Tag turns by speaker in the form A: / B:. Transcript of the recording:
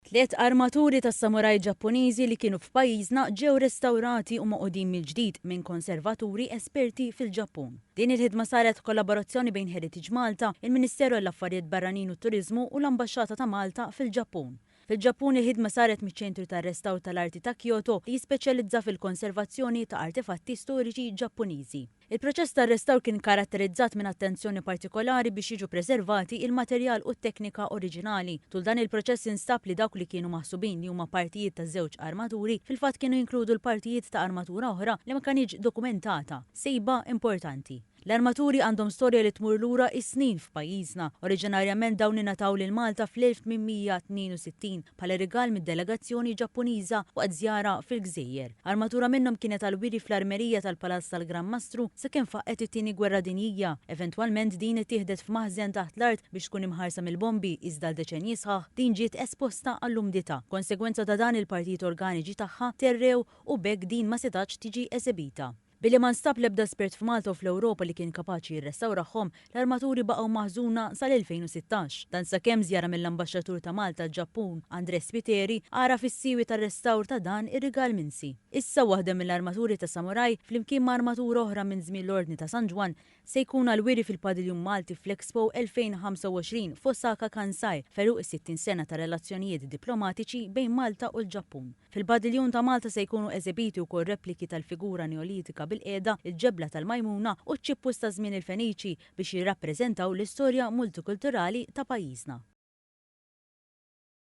A: Tliet armaturi tas-samuraj Ġappuniżi li kienu f'pajjiżna ġew restawrati u magħqudin mill-ġdid minn konservaturi esperti fil-Ġappun. Din il-ħidma saret f'kollaborazzjoni bejn Heritage Malta, il-Ministeru għall-Affarijiet Barranin u t-Turiżmu u l-Ambaxxata ta' Malta fil-Ġappun. Fil-Ġappun il-ħidma saret miċ-Ċentru tar-Restawr tal-Arti ta' Kyoto li jispeċjalizza fil-konservazzjoni ta' artefatti storiċi Ġappuniżi. Il-proċess ta' restawr kien karatterizzat minn attenzjoni partikolari biex jiġu preservati il-materjal u t-teknika oriġinali. Tul dan il-proċess instab li dawk li kienu maħsubin li huma partijiet ta' żewġ armaturi fil-fatt kienu jinkludu l-partijiet ta' armatura oħra li ma kanitx dokumentata. Sejba importanti. L-armaturi għandhom storja li tmur lura is-snin f'pajjiżna. Oriġinarjament dawn ingħataw lil Malta fl-1862 bħala rigal mid-delegazzjoni Ġappuniża waqt żjara fil-gżejjer. Armatura minnhom kienet għal wiri fl-armerija tal-Palazz tal-Gran Mastru sakemm faqqgħet it-Tieni Gwerra Dinjija. Eventwalment din ittieħdet f'maħżen taħt l-art biex tkun imħarsa mill-bombi iżda għal deċennji sħaħ din ġiet esposta għall-umdità. B'konsegwenza ta' dan il-partijiet organiċi tagħha terrew u b'hekk din ma setgħatx tiġi eżebita. Billi ma nstab l-ebda espert f'Malta u fl-Ewropa li kien kapaċi jirrestawrahom, l-armaturi baqgħu maħżuna sal-2016. Dan sakemm żjara mill-Ambaxxatur ta' Malta għaġ-Ġappun, Andrè Spiteri, għaraf is-siwi tar-restawr ta' dan ir-rigal minsi. Issa waħda mill-armaturi ta' Samurai, flimkien ma' armatura oħra minn żmien l-Ordni ta' San Ġwann, Se jkun għall-wiri fil-Padiljun Malti fl-Expo 2025 f'Osaka Kansai, f'għeruq is-60 sena ta' relazzjonijiet diplomatiċi bejn Malta u l-Ġappun. Fil-Badiljon ta' Malta se jkunu eżebiti wkoll repliki tal-figura Neolitika bil-qiegħda, il-ġebla tal-Majmuna u ċ-ċippus ta' żmien il-Feniċi biex jirrappreżentaw l-istorja multikulturali ta' pajjiżna.